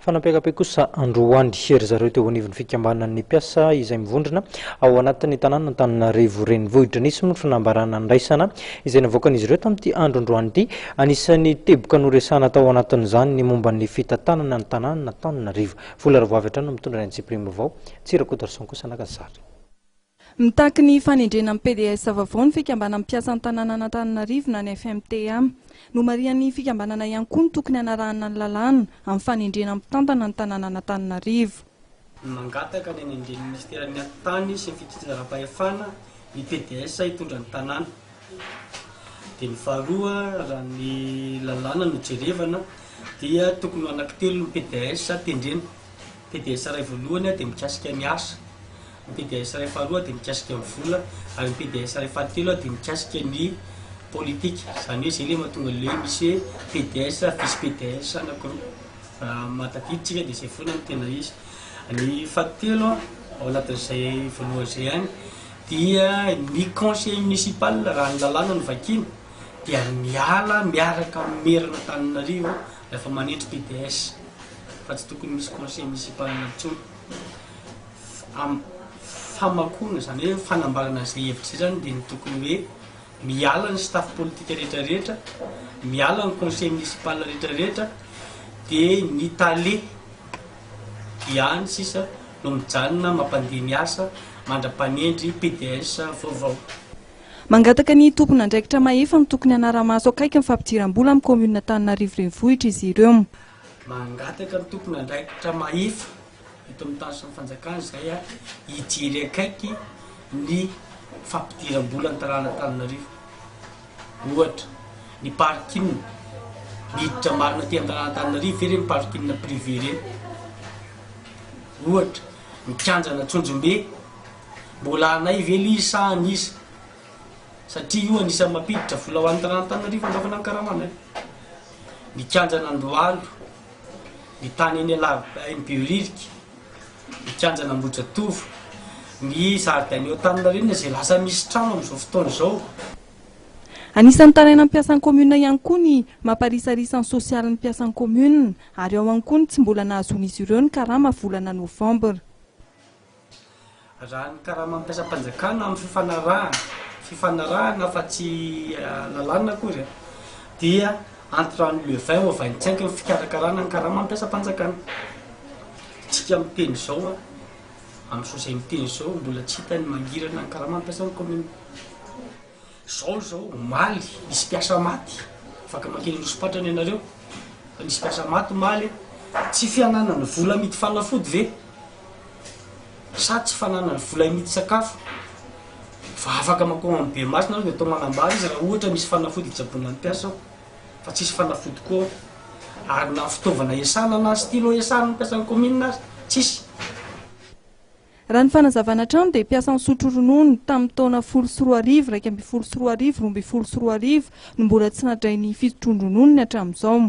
Fanapekapekosa androany ry zareo teo anivon'ny fikambanan'ny mpiasa izay mivondrona ao anatin'ny tanàna Antananarivo renivohitra. Nisy ny fanambarana andraisana izay navoakan'izy ireo tamin'ity andro androany ity. Anisan'ny teboka noresahana tao anatin'izany ny momba ny fitantanana ny tanànan'Antananarivo. Vola Ravoavy hatrany no mitondra ny antsipiriam-baovao, Tsy Rakotoarison kosa naka sary. Mitaky ny fanendrena amin'ny PDS vaovao ny fikambanan'ny mpiasan'ny tanànan'Antananarivo na ny FMTA. Nomarihan'ny fikambanana ihany koa ny tokony hanarahana ny lalàna amin'ny fanendrena mpitantana ny tanànan'Antananarivo. Mangataka ny hanendren'ny minisiteran'ny Atitany sy ny fitsinjaram-pahefana ny PDS hitondra ny tanàna. Dia ny faharoa, raha ny lalàna no jerevana dia tokony ho anaky telo ny PDS tendrena. PDS iray voalohany dia mikasika ny asa, ny PDS iray faharoa dia mikasika ny vola ary ny PDS iray fahatelo dia mikasika ny politika. Izany hoe izay ilay mahatonga ilay hoe misy hoe PDS, vice PDS anakiroa. Raha maha tadidy tsika dia izay foana no tena izy. Ny fahatelo ao anatin'izay voalohany izay ihany, dia ny conseiller municipal raha ny lalàna no vakiana dia miala miaraka amin'ny meran'Antananarivo rehefa manetry PDS fa tsy tokony misy conseiller municipal intsony am famakoana izany hoe fanambarana izay hevitra izay izany dia ny tokony hoe Miala ny staff politika rehetra rehetra, miala ny conseil municipal rehetra rehetra dia ny tale ihany sisa no mijanona mampandeha ny asa mandra-panendry PDS vaovao. Mangataka ny tompon'andraikitra mahefa ny tokony hanara-maso akaiky ny fampidiram-bola amin'ny Commune Antananarivo Renivohitra izy ireo. Mangataka ny tompon'andraikitra mahefa. eto amin'ny taritr'i Fanjakana izay hijery akaiky ny fampidiram-bola ny tanàn'Antananarivo. Ohatra, ny parking, miditra marina aty an-tanàn'Antananarivo ve ireny parking privé ireny? Ohatra, ny kianjanà Tsonjombe, mbola anay ve ilay izy sa an'iza? Satria io anisan'ny mampiditra vola ho an'ny tanàn'Antananarivo androany ny karamanay. ny Kianjan'Andohalo, ny tany eny Alaba eny Behoririka, ny Kianjan'Ambohijatovo, ny zaridaina eo Antaninarenina izay lasa misy trano amin'izao fotoana izao. Anisan'ny tarainan'ny mpiasan'ny kaominina ihany koa ny mamparisarisa ny sosialin'ny mpiasan'ny kaominina ary ao ihany koa ny tsy mbola nahazoan'izy ireo ny karama volana novambra. Raha ny karama ampiasam-panjakana amin'ny fifanarahana, fifanarahana fa tsy lalàna akory, dia entrant le vin au vingt cinq ny fikarakarana ny karama ampiasam-panjakana. Isika miteny izao, amin'ny soa izay miteny izao, mbola tsy hita ny mangirana ny karama ampiasan'ny kaominina. Zao izao omaly nisy mpiasa maty, afaka mankeny Anosipatrana ianareo fa nisy mpiasa maty omaly e! Tsy fiananany vola amidy fanafody ve? Sa tsy fananany vola amidy sakafo? Fa afaka mankao amin'ny Bemasina ary dia atao manambara izy raha ohatra misy fanafody hitsaboana ny mpiasa ao fa tsisy fanafody koa ao. Ary na fitaovana hiasana na stylo hiasana ny mpiasan'ny kaominina aza tsisy. Raha ny fanazavana hatrany dia mpiasa nisotro ronono tamin'ny taona folo sy roa arivo iraika ambin'ny folo sy roa arivo roa ambin'ny folo sy roa arivo no mbola tsy nadray ny fisotroan-drononony hatramin'izao.